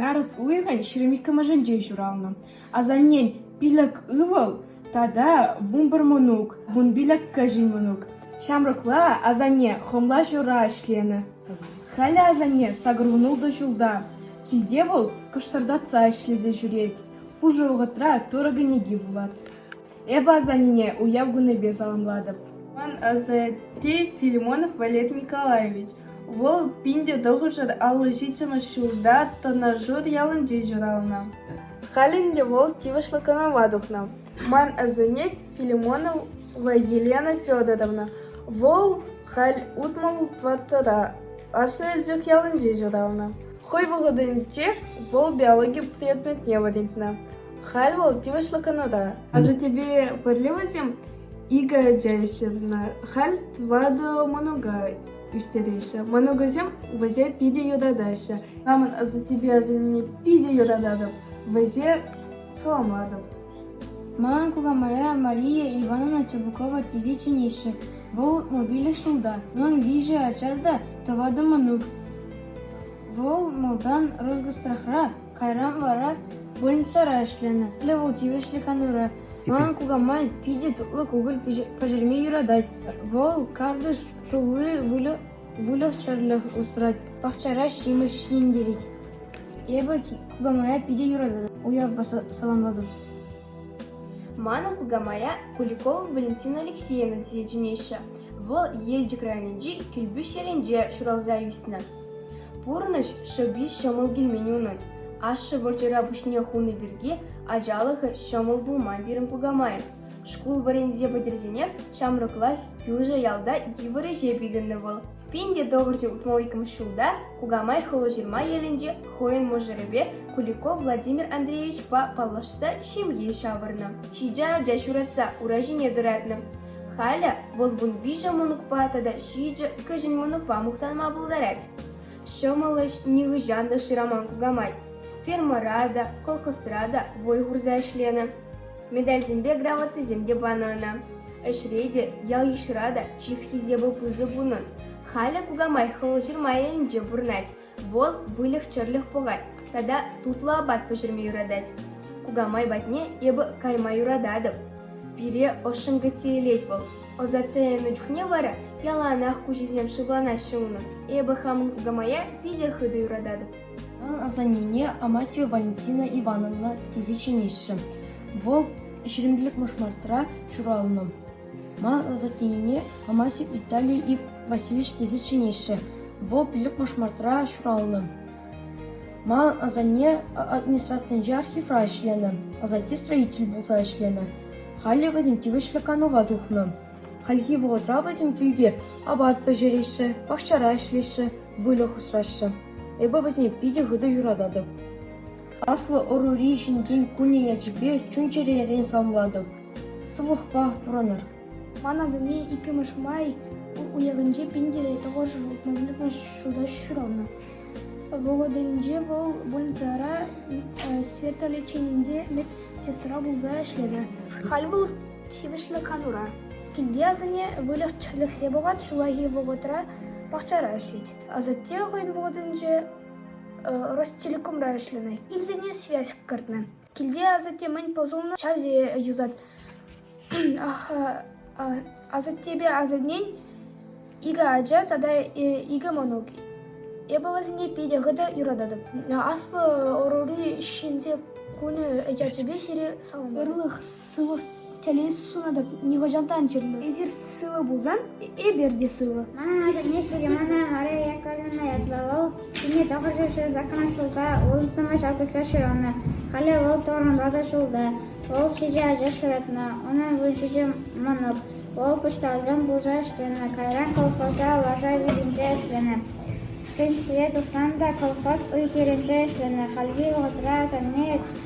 Нарӑс уйӑхӗн ҫирӗм иккӗмӗшӗнче ҫуралнӑ. Асаннен пилӗк ывӑл тата вунпӗр мӑнук, вун пилӗк кӗҫӗн мӑнук. Ҫамрӑкла асанне хӑмла ҫура ӗҫленӗ. Халӗ асанне сакӑрвунултӑ ҫулта. Килте вӑл кӑштӑртатса ӗҫлесе ҫӳрет. Пушӑ вӑхӑтра турӑ кӗнеки вулать. Эпӗ асаннене уяв кунӗпе саламлатӑп. Ман асатте Филимонов Валерий Николаевич. Вӑл пин те тӑхӑршар аллӑ ҫиччӗмӗш ҫулта Тӑнӑршур ялӗнче ҫуралнӑ. Халӗ ӗнтӗ вӑл тивӗҫлӗ канӑва тухнӑ. Ман асанне Филимонов Елена Федоровна. Вӑл халь утмӑл тӑваттӑра Аслӑ Элчӗк ялӗнче ҫуралнӑ. Хӑй вӑхӑтӗнче вӑл биологи предметне вӗрентнӗ. Халь вӑл тивӗҫлӗ канӑва. Асаттепе пӗрле вӗсем икӗ ача ӳстернӗ. Халь тӑватӑ мӑнука ӳстереҫҫӗ. Мӑнукӗсем вӗсе питӗ юратаҫҫӗ. Хамӑн асаттепе асанне питӗ юрататӑп, вӗсе саламлатӑп. Манӑн кукамайра Мария Ивановна Чабукова тесе чӗнеҫҫӗ. Вӑл мобильлӗ ҫулта. Унӑн виҫӗ ача та тӑватӑ мӑнук. Вӑл малтан Росгосстрахра, Кайран вара больницӑра ӗҫленӗ. Халӗ вӑл тивӗҫлӗ канура. Манӑн кукамай питӗ тутлӑ кукӑль пӗҫерме юратать. Вӑл картиш тулли выльӑх-чӗрлӗх усрать, пахчара ҫимӗҫ ҫитӗнтерет. Эпӗ кукамая питӗ юрататӑп, уявпа саламлатӑп. Манӑн кукамая Куликова Валентина Алексеевна тесе чӗнеҫҫӗ. Вӑл Елчӗк районӗнчи Килпӳҫ ялӗнче ҫуралса ӳснӗ. Пурнӑҫ шӑпи ҫӑмӑл килмен унӑн. Ашшӗ вӑрҫӑра пуҫне хунӑ пирки ачалӑхӗ ҫӑмӑл пулман пирӗн кукамай. Шкул вӗренсе пӗтерсенех ҫамрӑклах кӳршӗ ялта йывӑр ӗҫе пикеннӗ вӑл. Пин те тӑхӑрҫӑ утмӑл иккӗмӗш ҫулта Кукамай Хулаҫырма ялӗнче хӑйӗн мӑшӑрӗпе Куликов Владимир Андреевичпа паллашса ҫемье ҫавӑрнӑ. Ҫичӗ ача ҫуратса ура ҫине тӑратнӑ. Халӗ вӑл вун виҫӗ мӑнукпа тата ҫичӗ кӗҫӗн мӑнукпа мухтанма пултарать. Ҫӑмӑл ӗҫ нихӑҫан та шыраман кукамай. Фермӑра та, колхозра та вӑй хурса ӗҫленӗ. Медальсемпе грамотӑсем те панӑ ӑна. Ӗҫре те, ял-йышра та чи хисепӗ пысӑк унӑн. Халӗ кукамай хӑлҫырма енӗнче пурӑнать. Вӑл выльӑх-чӗрлӗх пӑхать тата тутлӑ апат пӗҫерме юратать. Кукамай патне эпӗ кайма юрататӑп. Пире ӑшшӑн кӗтсе илет вӑл. Ӑсатса янӑ чухне вара яланах куҫӗсем шывланаҫҫӗ унӑн. Эпӗ хамӑн кукамая питӗ хытӑ юрататӑп. Вӑл асаннене Амасия Валентина Ивановна тесе чӗнеҫҫӗ. Вӑл ҫирӗмлӗх мӑшмартра ҫуралнӑ. Ман асаттене Амасев Виталий Васильевич тесе чӗнеҫҫӗ. Вӑл пилӗк пушмартра ҫуралнӑ. Манӑн асанне администрацинче архивра ӗҫленӗ, асатте строитель пулса ӗҫленӗ. Халӗ вӗсем тивӗҫлӗ канӑва тухнӑ. Хальхи вӑхӑтра вӗсем килте апат пӗҫереҫҫӗ, пахчара ӗҫлеҫҫӗ, выльӑх усраҫҫӗ. Эпӗ вӗсене питӗ хытӑ юрататӑп. Аслӑ ӑрури ҫынсен кунӗ ячӗпе чун-чӗререн саламлатӑп. Сывлӑхпа пурӑнӑр. Ман асанне иккӗмӗш май уйӑхӗнче пин те тӑхӑршӗ автомобильлӗ ҫута ҫуралнӑ. Вӑхӑтӗнче вӑл больницӑра светолеченинче медсестра пулса ӗҫлет. Халь вӑл тивӗҫлӗ канура. Килте асанне выльӑх-чӗрлӗхсе пӑхать, ҫуллахи вӑхӑтра пахчара ӗҫлет. Асатте хӑйӗн вӑхӑтӗнче Ростелекомра ӗҫленӗ. Килсене связь кӗртнӗ. Килте асатте мӗн пӑсӑлнӑ ҫасе юсать. Асаттепе асаннен икӗ ача тата икӗ мӑнук. Эпӗ вӗсене питӗ хытӑ юрататӑп. Аслӑ ӑрури ҫынсен кунӗ ячӗпе сире саламлатӑп. сывлӑх тӗлӗн сунатӑп, нихӑҫан та ан чирлӗ. Эсир сывӑ пулсан, эпир те сывӑ. Манӑн асанне Сулеймана Мария Яковлевна ятлӑ. Вӑл ҫемье тапӑрчӑшӗ саккӑн ҫулта улттӑмӗш августра ҫуралнӑ. Халӗ вӑл Тӑвӑрмалта шӑлта. Вӑл ҫичӗ ача ҫуратнӑ. Унӑн вунҫичӗ мӑнук. Вӑл почтальон пулса ӗҫленӗ, кайран колхоза лаша витӗнче ӗҫленӗ. Пенсие тухсан та колхоз уй-хирӗнче ӗҫленӗ. Хальхи вӑхӑтра асанне